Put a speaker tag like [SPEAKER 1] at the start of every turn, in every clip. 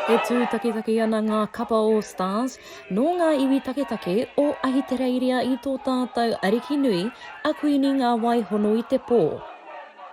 [SPEAKER 1] E tū taketake ana ngā kapa o Stars nō ngā iwi taketake o Ahitereiria i tō tātou ariki nui, a Kuini Ngāwai Hono i te pō.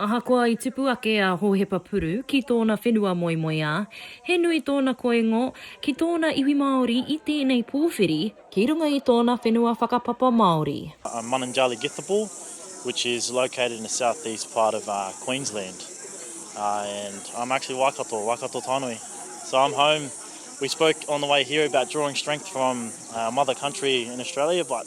[SPEAKER 1] Ahakoa i tupu ake a Hohepa Puru ki tōna whenua moemoeā, he nui tōna koingo ki tōna iwi Māori i tēnei pōwhiri, ki runga i tōna whenua whakapapa Māori. Mununjali Githable which is located in the south east part of Queensland and I'm actually Waikato, Waikato Tainui so I'm home, we spoke on the way here about drawing strength from our mother country in Australia but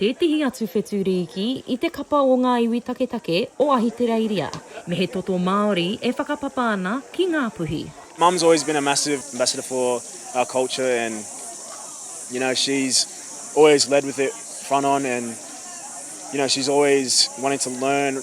[SPEAKER 1] tētehi atu whetū rīki i te kapa o ngā iwi taketake o Ahitereiria, me he toto Māori e whakapapa ana ki Ngāpuhi. Mum's always been a massive ambassador for our culture and you know she's always led with it front on and you know she's always wanting to learn.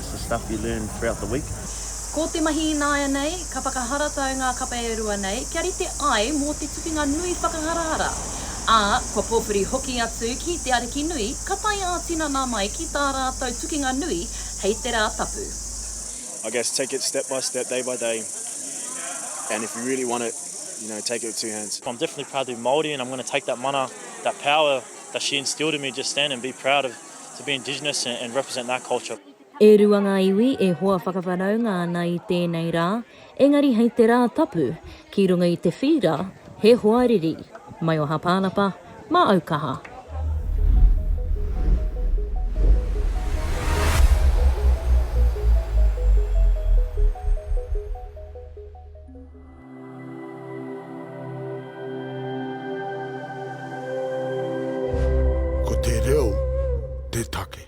[SPEAKER 1] The stuff you learn throughout the week. Ko te mahi ināianei, ka whakaharatau ngā kape e rua nei kia rite ai mō te tukinga nui whakaharahara, ā, kua pōwhiri hoki atu ki te Ariki Nui ka tae ā-tinana mai ki tā rātou tukinga nui hei te Rā Tapu. I guess take it step by step, day by day and if you really want it, you know, take it with two hands. I'm definitely proud to be Māori and I'm going to take that mana, that power that she instilled in me, just stand and be proud of. To be indigenous and represent that culture. E rua ngā iwi e hoa whakawhanaunga ana i tēnei rā, engari hei te rā tapu, ki runga i te whīra, he hoa riri. Maioha Pānapa, māau kaha. Ko te reo te take.